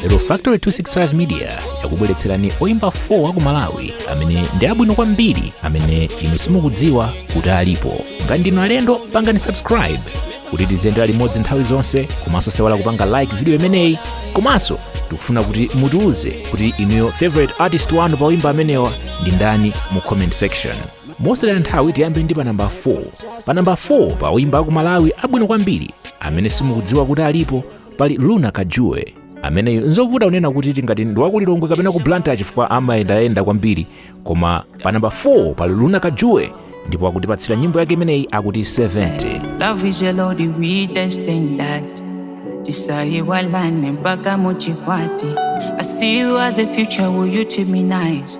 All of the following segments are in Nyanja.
lero factory 265 media yakubweretserani oyimba 4 a ku malawi amene ndi abwino kwambiri amene inu simukudziwa kuti alipo ngati ndinu alendo pangani subscribe kuti tiziyendera limodzi nthawi zonse komanso osayiwala kupanga like video imeneyi komanso tikufuna kuti mutiuze kuti inuyo favorite artist wanu pa oyimba amenewa ndi ndani mu comment section mosataya nthawi tiyambe ndi pa namba 4 pa namba 4 pa oyimba aku malawi abwino kwambiri amene simukudziwa kuti alipo pali luna kajue ameneyu nzovuta kunena kuti tingati ndi wakulilongwe kapena ku blantyre chifukwa amayendayenda kwambiri koma pa namba 4 pali luna kajue ndipo akutipatsira nyimbo yake imeneyi akuti 70 Love is a load of weed and stain that. Tisayiwalane mpaka muchikwati. I see you as a future, will you to me nice?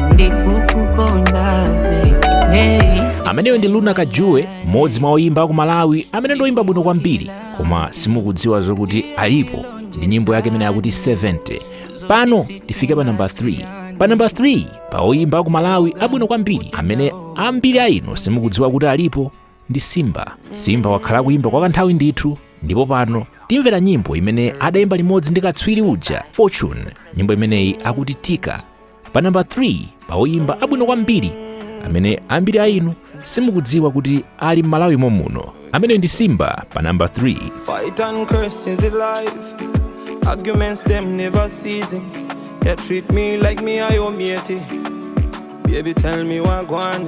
ndikukukondabe hey. ameneyo ndi luna kajue mmodzi mwa oyimba aku malawi amene ndoyimba bwino kwambiri koma simukudziwa zokuti alipo ndi nyimbo yake imene yakuti 70 pano tifike pa namba 3 pa namba 3 pa oyimba aku malawi abwino kwambiri amene ambiri a inu simukudziwa kuti alipo ndi simba simba wakhala akuyimba kwa kanthawi ndithu ndipo pano timvera nyimbo imene adayimba limodzi ndi katswiri uja fortune nyimbo imeneyi akuti tika pa namba 3 pa oyimba abwino kwambiri amene ambiri a inu simukudziwa kuti ali m'malawi momuno ameneyo ndi simba pa namba 3 Fight and curse in the life. Arguments them never ceasing. You treat me like me I owe me a thing. Baby, tell me wagwan.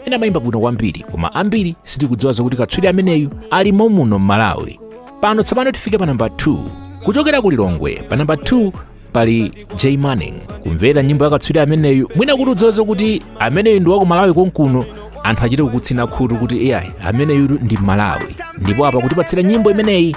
amene amayimba bwino kwambiri koma ambiri sitikudziwa zokuti katswiri ameneyu ali momuno m'malawi pano tsopano tifike pa namba 2 kuchokera ku lilongwe pa namba 2 pali j manning kumvera nyimbo ya katswiri ameneyu mwina kuti udziwe zokuti ameneyu ndi wakumalawi konkuno anthu achite kukutsina khutu kuti iyayi ameneyu ndi mmalawi ndipo apa akutipatsira nyimbo imeneyi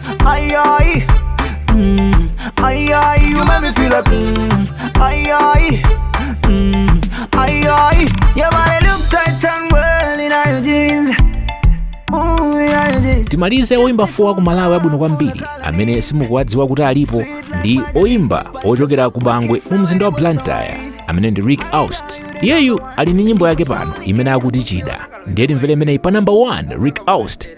Aye, aye. Mm, aye, aye. You make me feel like, mm, aye, aye. Mm, aye, aye. Your body look tight and well in your jeans. Ooh, in your jeans. timalize oyimba 4 aku malawi abwino kwambiri amene simukuwadziwa kuti alipo ndi oyimba ochokera ku bangwe mu mzinda wa blantyre amene ndi rick aust iyeyu ali ndi nyimbo yake pano imene akuti chida ndiye timvere imeneyi pa namba 1 rick aust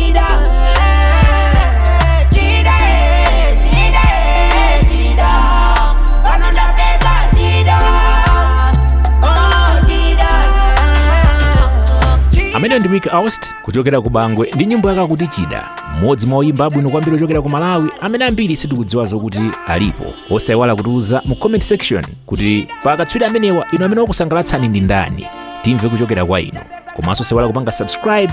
chida chida chida chida pano ndapeza chida oh chida ameneyo ndi Rick Aust kuchokera ku Bangwe ndi nyimbo yake akuti chida mmodzi mwa oyimba abwino kwambiri ochokera ku Malawi amene ambiri sitikudziwa zokuti alipo osayiwala kutiuza mu comment section kuti pa akatswiri amenewa inu amene wakusangalatsani ndi ndani timve kuchokera kwa inu komanso osayiwala kupanga subscribe